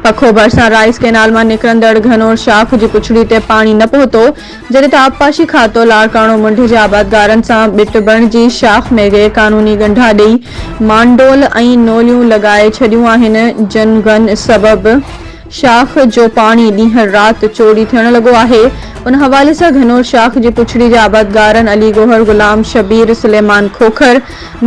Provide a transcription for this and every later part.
پکو ڀرسان Rice Canal مان نڪرندڙ گهنور شاخ جي پڇڙي تي پاڻي نه پهتو، جڏهن ته آبپاشي کاتو لاڙڪاڻو منڍ جي آبادگارن سان ٻٽ بڻجي شاخ ۾ غير قانوني ڳنڍا ڏئي مانڊول ۽ نوليون لڳائي ڇڏيون آهن، جن گن سبب شاخ جو پاڻي ڏينهن رات چوري ٿيڻ لڳو آهي، ان حوالي سان گهنور شاخ جي پڇڙي جي آبادگارن علي گوهر، غلام شبير، سليمان کوکر،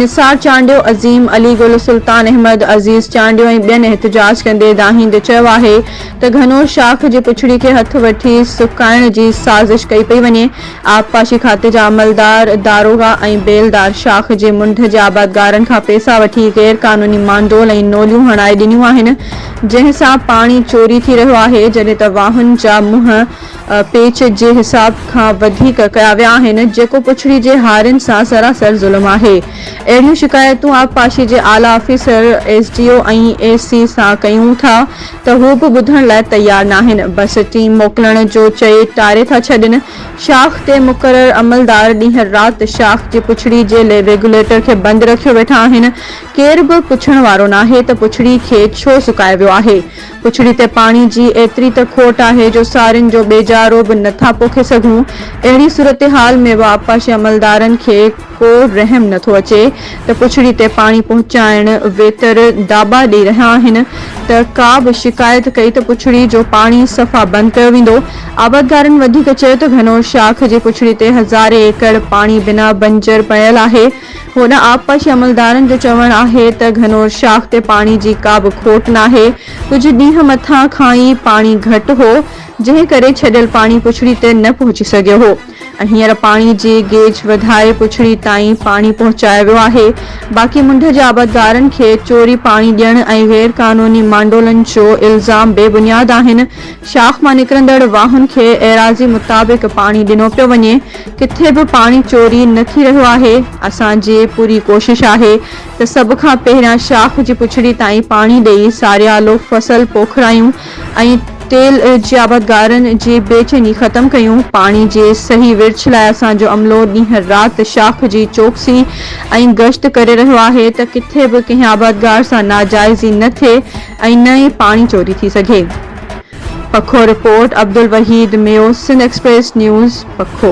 نثار چانڊيو، عظيم، علي گل، سلطان احمد، عزيز چانڊيو ۽ ٻين احتجاج ڪندي دانهيندي چيو آهي ته گهنور شاخ جي پڇڙي کي هٿ وٺي سڪائڻ جي سازش ڪئي پئي وڃي، آبپاشي کاتي جا عملدار، داروغا ۽ بيلدار شاخ جي منڍ جي آبادگارن کان پيسا وٺي غيرقانوني مانڊول ۽ نوليون هڻائي ڏنيون آهن، جنهن سان پاڻي چوري ٿي رهيو آهي، جڏهن ته واهن جا منهن پيچ جي حساب کان وڌيڪ ڪيا ويا آهن، جيڪو پڇڙي جي هارين سان سراسر ظلم آهي. اهڙيون شڪايتون آبپاشي جي اعليٰ officer, S D O ۽ A C سان ڪيون ٿا ته هو به ٻڌڻ لاء تيار ناهن، بس ٽيم موڪلڻ جو چئي ٽاري ٿا ڇڏين. شاخ تي مقرر عملدار ڏينهن رات شاخ جي پڇڙي جي ريگيوليٽر کي بند رکيو ويٺا آهن، ڪير به پڇڻ وارو ناهي ته پڇڙي کي ڇو سڪايو ويو آهي. پڇڙي تي پاڻي جي ايتري ته کوٽ آهي جو سارين جو ٻيجارو به نه ٿا پوکي سگهون. اهڙي صورتحال ۾ به آبپاشي عملدارن کي ڪو رحم نه ٿو اچي ته پڇڙي تي پاڻي پهچائڻ ويتر داٻا ڏئي رهيا آهن ته ڪا به شڪايت ڪئي ته پڇڙي جو پاڻي صفا بند ڪيو ويندو. آبادگارن وڌيڪ چيو ته گهنور شاخ جي پڇڙي تي هزارين ايڪڙ پاڻي بنا بنجر پيل آهي. هوڏانهن آبپاشي عملدارن جو چوڻ آهي ته گهنور شاخ تي پاڻي جي ڪا به کوٽ ناهي، ڪجهه ڏينهن مٿان کان ئي پاڻي گهٽ هو، جنهن ڪري ڇڏيل پاڻي پڇڙي تي نه پهچي سگهيو هو ۽ هينئر پاڻي جي گيج وڌائي پڇڙي تائين پاڻي پهچايو ويو آهي، باقي منڍ جي آبادگارن کي چوري پاڻي ڏيڻ ۽ غيرقانوني مانڊولن جو الزام بي بنياد آهن، شاخ مان نڪرندڙ واهن کي ايراضي مطابق پاڻي ڏنو پيو وڃي، ڪٿي به پاڻي چوري نه ٿي رهيو آهي، اسان جي پوري ڪوشش آهي ته سڀ کان پهريان شاخ جي پڇڙي تائين پاڻي ڏئي ساريالو فصل پوکرايون ۽ تيل جي آبادگارن جي بي چيني ختم ڪيون، پاڻي جي صحيح ورڇ لاء اسان جو عملو ڏينهن رات شاخ جي چوڪسي ۽ گشت ڪري رهيو آهي ته ڪٿي به ڪنهن آبادگار سان ناجائزي نه ٿئي، ۽ نه ئي پاڻي چوري ٿي سگهي. پکو رپورٽ، عبدالوحيد ميو سنڌ ايڪسپريس نيوز، پکو.